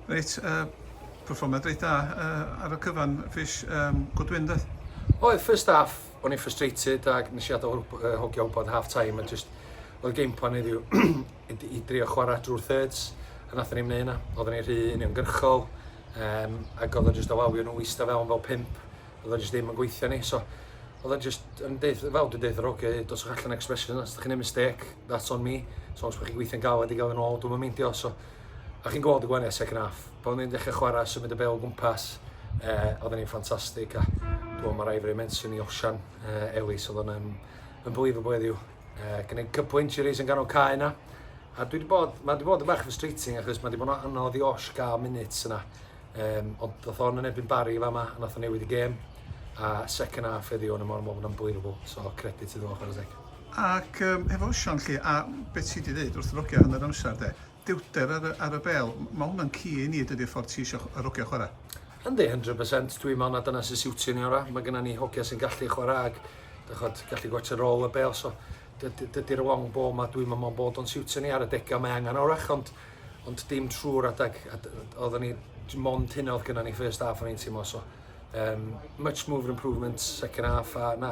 Reit, yy, perfformiad reit dda yy ar y cyfan, Fish, um, good win doedd? Oedd, first half, o'n i'n frustrated ac nes i adael uh, hogio wybod half time a just oedd game plan heddiw i drio chwarae drwy'r thirds a nath ni'n mynd yna. Oedden ni'n rhy uniongyrchol um, ac oedd o just alawio nhw eista fewn fel pimp. Oedd o just ddim yn gweithio ni, so oedd o'n just yn deith, fel dwi'n deith yr ogio, dos o'ch allan expression, os ydych chi'n ei mistake, that's on me. So os ydych chi'n gweithio'n galed i gael yn ôl, dwi'n mynd meindio, so A chi'n gweld y gwaniaeth second half. Pan ni'n dechrau chwarae, symud y bel o gwmpas, e, oedden ni'n ffantastig. A dwi'n mae Raifri Menson i Osian, e, Elis, oedd o'n unbelievable heddiw. E, Gwneud cwpl injuries yn ganol cae yna. A dwi wedi bod, mae wedi bod yn bach frustrating achos mae wedi bod yn anodd i Osh gael minutes yna. Um, ond oedd o'n yn ebyn Barry fa yma, a nath o'n newid y gêm. A second half heddiw o'n y mor mor unbelievable. So, credit iddo fo, chwarae teg. Ac yym hefo Wsion 'lly a be' ti 'di ddeud wrth rogia hanner amsar 'de, dewter ar y ar y bêl, m- ma' hwnna'n key i ni dydi'r ffordd ti isio ch- yy rogia chwara'. Yndi, hundred percent, dwi me'wl na dyna sy'n siwtio ni ora', ma' gynna ni hogia sy'n gallu chwara' ag d'ch'od gallu gwatsio rôl y bêl so dy- dy- dydi'r long ball 'ma dwi'm yn me'wl bod o'n siwtio ni ar y dega mae angan orach ond ond dim trw'r adag a d- oedden ni j- mond hynna o'dd gynna ni first half o'n i'n teimlo so yym much move for improvement second half a na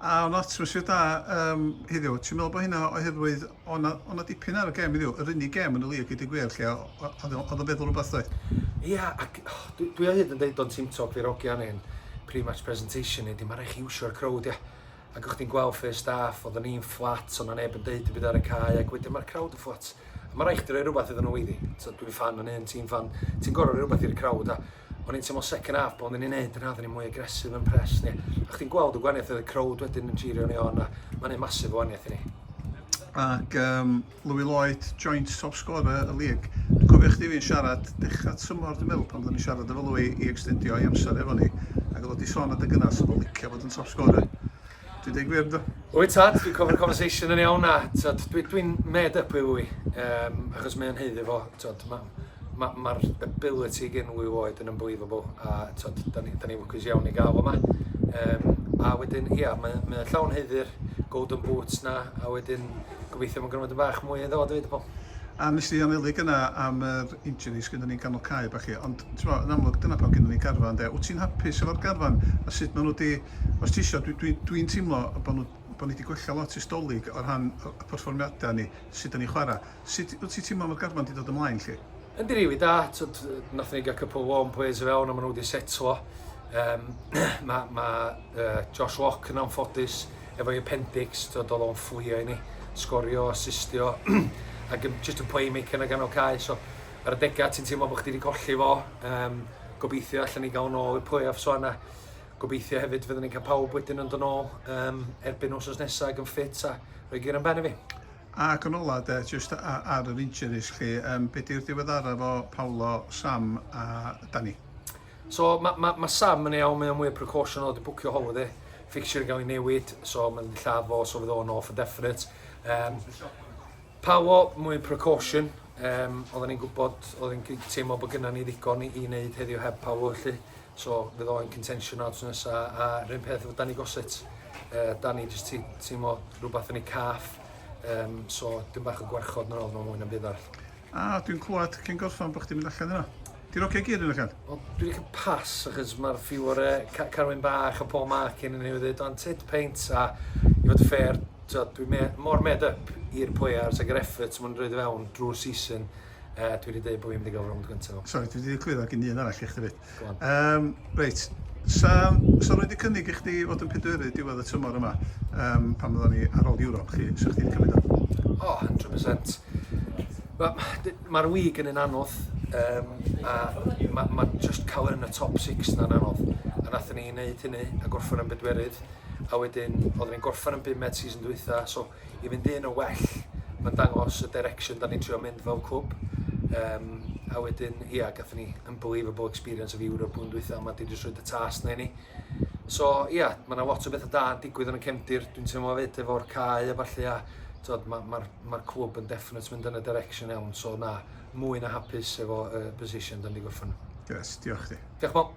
A o'na atmosffer da um, heddiw. Ti'n meddwl bod hynna oherwydd o'na, o'na dipyn ar y gem heddiw? Yr unig gem yn y lig, gyda gwir, lle oedd yn feddwl rhywbeth doedd? Ia, yeah, ac oh, dwi, dwi o hyd yn deud o'n Team Talk ddi'r ogian ein pre-match presentation ni, di mae rhaid chi iwsio'r crowd, ia. Ac o'ch ti'n gweld first half, oedden ni'n fflat, o'na neb yn deud y byd ar y cae, ac wedyn mae'r crowd yn fflat. A ma' raid chdi roi rwbath iddyn nhw iddi. T'od dwi'n ffan yn hyn, ti'n ffan, ti'n gor'o' roi rwbath i'r crowd a o'n i'n teimlo second half pan oedden ni'n neud yna oedden ni mwy aggressive yn press ni a chdi'n gweld y gwanieth oedd y crowd wedyn yn jirio ni on a ma'n neud massive o wanieth i ni. Ac um, Louis Lloyd, joint top scorer y lig. Dwi'n cofio chdi fi'n siarad dechrau tymor dwi'n meddwl pan oedden ni'n siarad efo Louis i extendio i amser efo ni ac oedd o wedi sôn adeg yna 'sa fo'n licio bod yn top scorer. Dwi deu gwir yndw? Wyt tad, dwi'n cofio'r conversation yn iawn a tod, dwi, dwi'n made up i wy, um, achos mae'n heiddi fo, tod, mae'r ma, ma ability gen wy oed yn unbelievable a tod, da ni, da ni lwcus iawn i gael fo yma. Um, a wedyn, ia, mae, mae llawn heiddi'r golden boots na, a wedyn gobeithio mae'n gwneud yn bach mwy iddo fo, dweud y bol. A nes di anelu gyna am yr injury sgynna ni'n ganol cae bach chi, ond ti'n yn amlwg dyna pam gynna ni garfan de. Wyt ti'n hapus efo'r garfan a sut maen nhw wedi Os ti isio, dwi, dwi, dwi'n teimlo bod nhw, bod ni wedi gwella lot ers Dolig o rhan y y perfformiadau ni, sut dan ni'n chwarae. Sut wyt ti'n teimlo mae'r garfan wedi dod ymlaen 'lly? Yndi, rili da, tw'd nathon ni gael couple o warm players i fewn a ma' nhw wedi setlo. Yym ma' ma' yy Josh Lock yn anffodus efo'i appendix, tw'd oedd o'n fflio i ni, sgorio, assistio ac yn jyst yn playmaker yn y ganol cae, so ar y degau ti'n teimlo bod chdi wedi colli fo, yym gobeithio allan ni gael o'n ôl i'r play-offs o fan'na. Gobeithio hefyd fydden ni'n cael pawb wedyn yn dod nôl um, erbyn wrth nesaf ag yn ffit a rhoi gyr yn ben i fi. Ac yn ola de, just ar yr injuries chi, um, be di'r diweddara fo Paolo, Sam a Danny? So mae ma, ma Sam yn ei awn, mae o'n mwy o precaution o di bwcio holiday, fixture yn cael ei newid, so mae'n lladd fo, so fydd o'n off yn definite. Um, Paolo, mwy o precaution, um, oedden ni'n gwybod, oedden ni'n teimlo bod gynnau ni ddigon i, i wneud heddiw heb Paolo, felly So fydd o yn contention odds nesa a rhywun peth efo Danny Gossett. Uh, Danny jyst ti teimlo rhywbeth yn ei caff. Um, so dim bach o gwarchod nôl yma mwy na byd arall. A dwi'n clywed cyn gorffan bod chdi'n mynd allan yna. Ti'n oce gyd yn allan? Wel, dwi wedi cael pas achos mae'r ffiw o'r uh, carwyn bach a pob mac yn ei wneud o'n tit peint a i fod ffair, dwi'n me mor made up i'r players ac yr effort maen nhw'n rhoi fewn drwy'r season Uh, dwi wedi dweud bod fi'n mynd i gael rownd gyntaf. Sorry, dwi wedi cywiro gyn un arall i chdi fyd. Um, reit, sa, sa rwy'n wedi cynnig i chdi fod yn pedweru diwedd y tymor yma, um, pan fyddwn ni ar ôl Ewrop, chi, sa chdi wedi cymryd o? O, oh, 100%. Mae'r ma wig yn un anodd, um, a mae ma just cael yn y top 6 na'n anodd. A nath ni wneud hynny, a gorffen yn bedwerydd, a wedyn, oedden ni'n gorffen yn bum med season dwytha, so i fynd un yn well, mae'n dangos y direction da ni'n trio mynd fel cwb. Um, a wedyn, ia, yeah, gatho ni unbelievable experience of Europe blwyddyn dwytha, mae di jyst rhoi y tas na i ni. So, ia, yeah, mae yna lot o bethau da yn digwydd yn y cefndir, dwi'n teimlo fyd efo'r cae a falle, a mae'r ma, ma, ma clwb yn definite mynd yn y direction iawn, so na, mwy na hapus efo uh, position da ni wedi gorffen. Yes, diolch chi. Diolch, Bob.